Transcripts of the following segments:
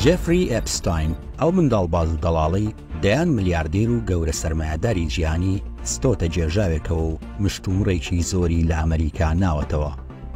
جێفری ئێپستاین، ئەو منداڵباز و دەڵاڵەی دەیان ملیاردێر و گەورە سەرمایەداری جیهانی ستۆتە گێژاوێکەوە و مشتومڕێکی زۆری لە ئەمەریکا ناوەتەوە.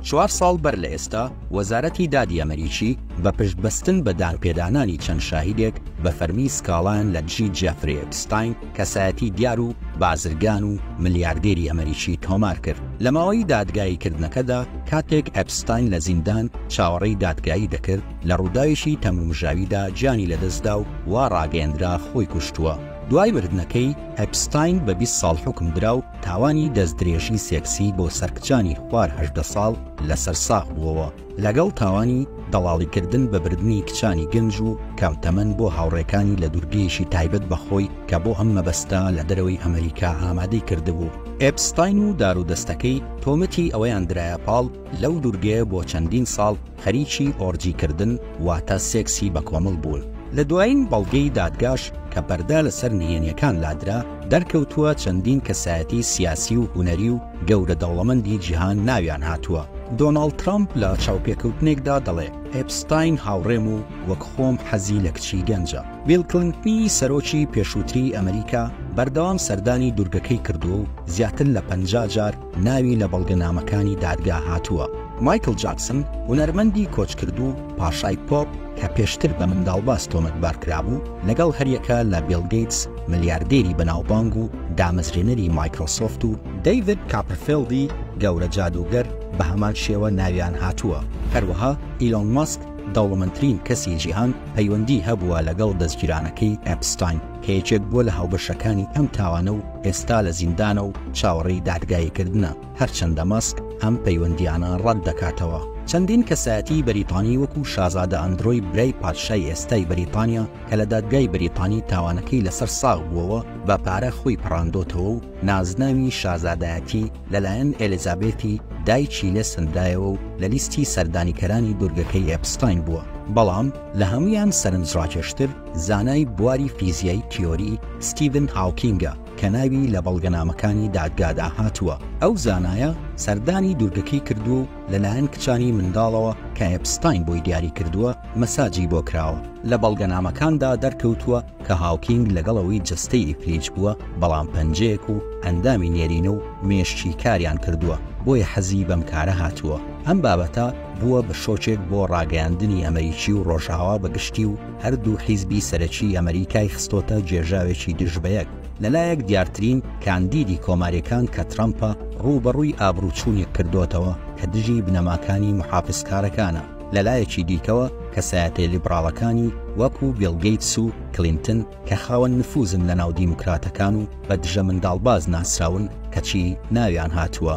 چوار ساڵ بەر لە ئێستا، وەزارەتی دادی ئەمەریکی بە پشت بەستن بە دانپێدانانی چەند شاهیدێک بە فەرمی سکاڵایان لە دژی جێفری ئێپستاین، کەسایەتی دیار و بازرگان و ملیاردێری ئەمەریکی تۆمار کرد. لە ماوەی دادگاییکردنەکەدا، کاتێک ئێپستاین لە زیندان چاوەڕێی دادگایی دەکرد، لە ڕووداوێکی تەمومژاویدا گیانی لەدەستدا و وا ڕاگەیەندرا خۆی کوشتووە. دوای مردنەکەی، ئەپستاین بە بیست ساڵ حوکم درا و تاوانی دەستدرێژی سێکسی بۆ سەر کچانی خوار هەژدە ساڵ لەسەر ساغ بووەوە، لەگەڵ تاوانی دەڵاڵیکردن بە بردنی کچانی گەنج و کەم تەمەن بۆ هاوڕێکانی لە دوورگەیەکی تایبەت بە خۆی کە بۆ ئەم مەبەستە لە دەرەوەی ئەمەریکا ئامادەی کردبوو. ئەپستاین و دارودەستەکەی تۆمەتی ئەوەیان درایە پاڵ لەو دوورگەیە بۆ چەندین ساڵ، خەریکی ئۆرجی کردن واتە سێکسی بەکۆمەڵ بوون. لە دوایین بەڵگەی دادگاش کە پەردە لەسەر نهێنیەکان لادرا، دەرکەوتووە چەندین کەسایەتی سیاسی و هونەری و گەورە دەوڵەمەندی جیهان ناویان هاتووە. دۆناڵد ترەمپ لە چاوپێکەوتنێکدا دەڵێ، ئێپستاین هاوڕێم و وەک خۆم حەزی لە کچی گەنجە. بیڵ کلنتنی سەرۆکی پێشووتری ئەمریکا بەردەوام سەردانی دوورگەکەی کردووە و زیاتر لە پەنجا جار ناوی لە بەڵگەنامەکانی دادگا هاتووە. مایکڵ جاکسن، هونەرمەندی کۆچکردوو پاشای پۆپ کە پێشتر بە منداڵباز تۆمەتبار کرابوو، لەگەڵ هەریەکە لە بیڵ گەیتس، ملیاردێری بەناوبانگ و دامەزرێنەری مایکرۆسۆفت و، دەیڤد کاپرفێڵدی گەورە جادووگەر بە هەمان شێوە ناویان هاتووە. هەروەها ئیلۆن ماسک، دەوڵەمەندترین کەسی جیهان، پەیوەندیی هەبووە لەگەڵ دەزگیرانەکەی ئێپستاین، کە یەکێک بووە لە هاوبەشەکانی ئەم تاوانە و، ئێستا لە زیندانە و چاوەڕێی دادگاییکردنە، هەرچەندە مەسک ئەم پەیوەندییانە ڕەت دەکاتەوە. چەندین کەسایەتیی بەریتانی وەکوو شازادە ئەندرۆی برای پادشای ئێستای بەریتانیا کە لە دادگای بەریتانی تاوانەکەی لەسەر ساغ بووەوە بە پارە خۆی پەڕاندۆتەوە و نازناوی شازادایەتی لەلایەن ئێلیزابێثی دایکی لێ سەندرایەوە و لە لیستی سەردانیکەرانی دوورگەکەی ئێپستاین بووە بەڵام لە هەموویان سەرنجڕاکێشتر زانای بواری فیزیای تیۆری ستیڤن هاوکینگە کە ناوی لە بەڵگەنامەکانی دادگادا هاتووە، ئەو زانایە سەردانی دوورگەکەی کردووە و لەلایەن کچانی منداڵەوە کە ئێپستاین بۆی دیاری کردووە مەساجی بۆ کراوە. لە بەڵگەنامەکاندا دەرکەوتووە کە هاوکینگ لەگەڵ ئەوەی جەستەی ئیفلیج بووە بەڵام پەنجەیەک و ئەندامی نێرینە و مێشکی کاریان کردووە بۆیە حەزی بەم کارە هاتووە ئەم بابەتە بووە بە شۆکێک بۆ ڕاگەیاندنی ئەمەریکی و ڕۆژئاوا بە گشتی و هەردوو حیزبی سەرەکی ئەمەریکای خستۆتە گێژاوێکی دژ بەیەک، لەلایەک دیارترین کاندیدی کۆماریەکان کە ترەمپە ڕووبەڕووی ئابڕووچوونێک کردۆتەوە کە دژی بنەماکانی محافزکارەکانە، لەلایەکی دیکەوە کەسایەتێ لیبڕاڵەکانی وەکو بیڵ گەیتس و کلینتن کە خاوەن نفوزن لەناو دیموکراتەکان و بە دژە منداڵباز ناسراون کەچی ناویان هاتووە.